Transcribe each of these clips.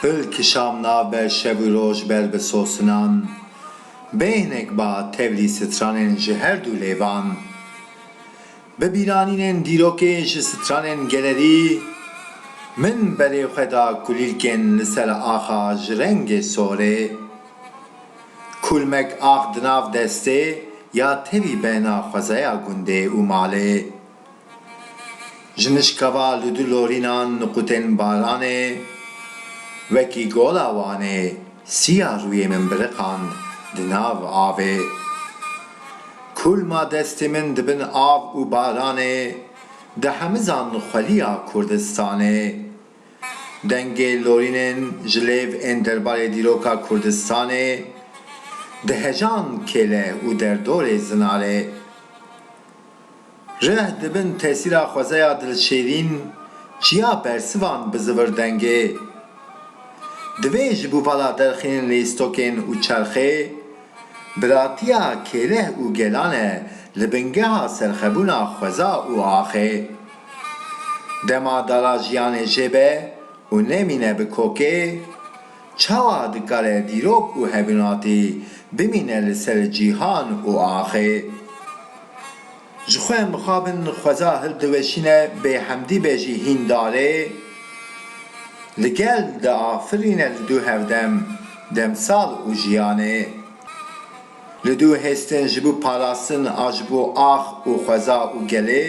Pil kişam navber şev û roj ber bi sosinan Bêhnek ba tevlî stranên ji her dû lêvan. Bi bîranînên dîrokê ji stranên gelerî min berê xwe da kulîlkên li ser axa ji rengê sorê. Kulmek ax di nav destê ya tevî bena xwezaya gundê û malê. Ji nişkava li du lorîna niqûtên baranê wekî gola Wanê sîya rûyê min biriqand di nav avê. Kulma destê min di bin av û baranê di hemizan xweliya Kurdistanê. Dengê lorînên ji lêv ên derbarê dîroka Kurdistanê di hejan kêle û derdorê zinarê. Rih di bin tesîra xwezeya dilşêrîn çiya bersivan bi zivir dengê. Divê ji bo vala derxînin lîstokên û çerxê, biratiya kêleh û gelan e li bingeha serxebûna xweza û axê. Dema dala jiyanê jê be û nemîne bi kokê, çawa dikare dîrok û hevînatî bimîne li ser cîhan û axê? Ji xwe em bixabin xweza hildiweşîne bêhemdî be jî hîn darê li gel diafirîne li dû hevdem demsal û jiyanê. Li dû hêstin ji bo parastin a ji bo ax û xweza û gelê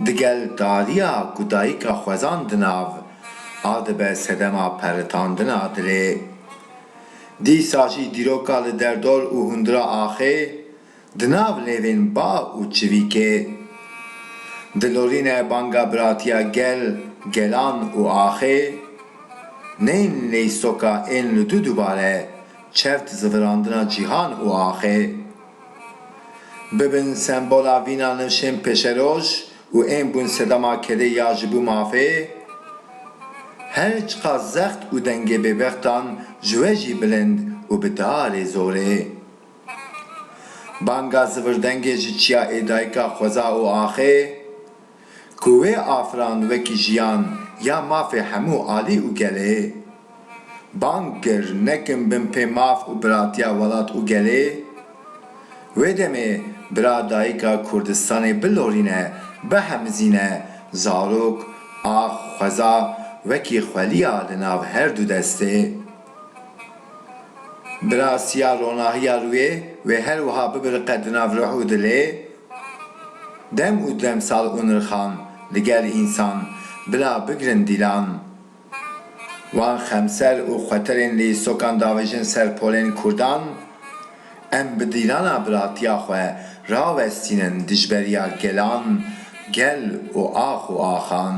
di gel dariya ku dayika xwezan di nav a dibe sedema peritandina dilê. Dîsa jî dîroka li derdor û hundira axê, Di nav lêvên ba û çivîkê dilorîne banga biratiya gel, gelan û axê neyên lêy soka ên li du dubare çewt zivirandina cîhan û axê bibin sembola vîna nivşên pêşeroj û ên bûn sedema kedê ya ji bo mafê her çiqas zext û dengê bêbextan ji we jî bilind û bi darê zorê. Banga zivirdengê ji çiya ê dayika xweza û axê ku wê afirand wekî jiyan ya mafê hemû alî û gelê. Bang kir nekin bin pê maf û biratiya welat û gelê. Wê demê bira dayika Kurdistanê bilorîne, bihemizîne zarok, ax, xweza wekî xweliya li nav her du destê. Bi rastiya ronahiya rûyê wê her wiha bibiriqe di nav ruh û dilê dem û demsal û nirxan li gel însan bila bigirin dîlan. Wan xemser û xweterên li îstokan davêjin ser polên kurdan, em bi dîlana biratiya xwe rawestînin dijberiya gelan, gel û ax û axan.